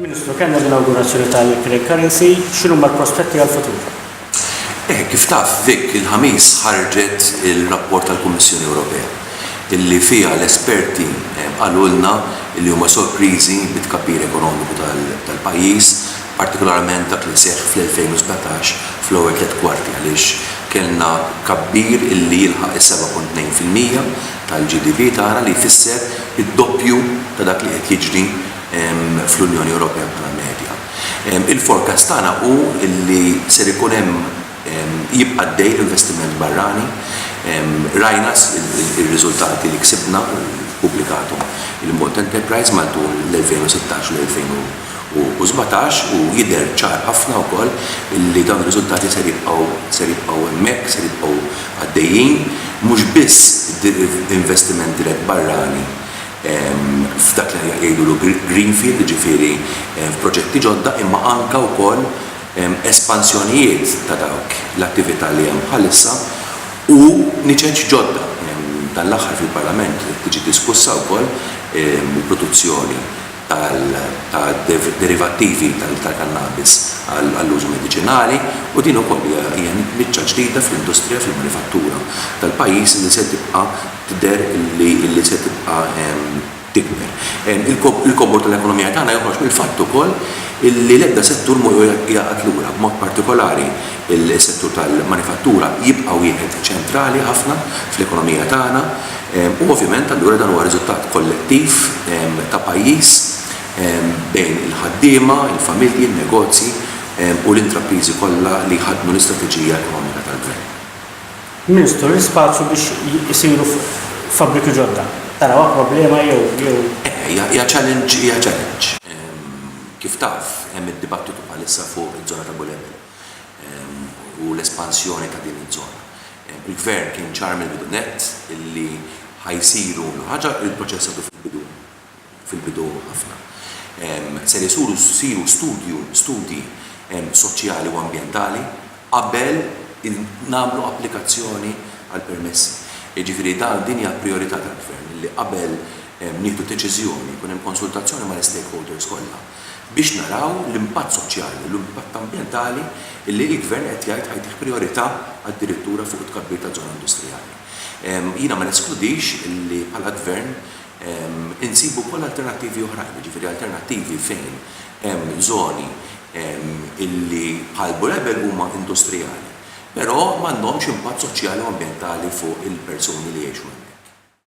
Ministru, kellna l-inawgurazzjoni tal-Craig Currency, x'inhuma l-prospetti għall-futur? Eh, kif taf, Vic, il-Ħamis ħarġet il-rapport tal-Kummissjoni Ewropea illi fiha l-esperti eh, qalulna li huma sorpriżi bit-tkabbir ekonomiku tal-pajjiż, partikolarment dak li seħħ fl-2017 fl-ewwel tliet kwarti għaliex kellna kabbir illi jilħaq is-7.2 fil-mija tal-GDV tara li jfisser id-doppju ta' dak li qed jiġri fl-Unjoni Ewropea bħala medja. Il-forecast tagħna hu li ser ikun hemm jibqa' għaddej l-investiment barrani. Rajna r-riżultati li ksibna u ppubblikathom il-Malta Enterprise matul l-2016 u l-2000. u sbatax u jidher ċar ħafna wkoll li dawn ir-riżultati ser jibqgħu ser jibqgħu hemmhekk, ser jibqgħu għaddejjin. Mhux biss investiment dirett barrani f'dak li jgħidulu greenfield, jiġifieri f'proġetti ġodda, imma anke wkoll espansjonijiet ta' dawk l-attività li hemm bħalissa u niċeċ ġodda. Dan l-aħħar fil-Parlament qed tiġi diskussa wkoll il-produzzjoni ta' derivattivi tal-kannabis għall-użu mediċinali u din ukoll hija niċċa ġdida fl-industrija fil-manifattura tal-pajjiż li se tibqa' tidher li se tibqa' tikber. Il-kobor tal-ekonomija tagħna joħroġ mill-fatt ukoll li l-ebda settur mhu jaqgħad lura, b'mod partikolari s-settur tal-manifattura jibqa' wieħed ċentrali ħafna fl-ekonomija tagħna, U ovvjament allura dan huwa riżultat kollettiv ta' pajjiż bejn il-ħaddiema, il-familji, in-negozji u l-intrapriżi kollha li jħaddnu l-istrateġija ekonomika tal-Gvern. Ministru, l-ispazju biex isiru fabbriki ġodda, tarawha problema jew? Iva, hija challenge, hija challenge. Kif taf, hemm id-dibattitu bħalissa fuq iż-żona ta' Bulebel u l-espansjoni ta' din iż-żona. Il-Gvern kien ċar mill-bidu nett illi ħa jsiru l ħaġa li pproċessatu fil-bidu fil-bidu ħafna. Ser isuru siru studju studji soċjali u ambjentali qabel il nagħmlu applikazzjoni għall-permessi. Jiġifieri dan din hija prijorità tal-Gvern illi qabel nieħdu deċiżjoni jkun hemm konsultazzjoni mal-istakeholders kollha. biex naraw l-impatt soċjali u l-impatt ambjentali li l-Gvern qed jgħid ħa jtih prijorità addirittura fuq it-tkabbir ta' żona industrijali. Jiena ma neskludix li bħala Gvern insibu wkoll alternattivi oħrajn, jiġifieri alternattivi fejn hemm żoni li bħal Blu Label huma industrijali, però m'għandhomx impatt soċjali u ambjentali fuq il-persuni li jgħixu hemmhekk.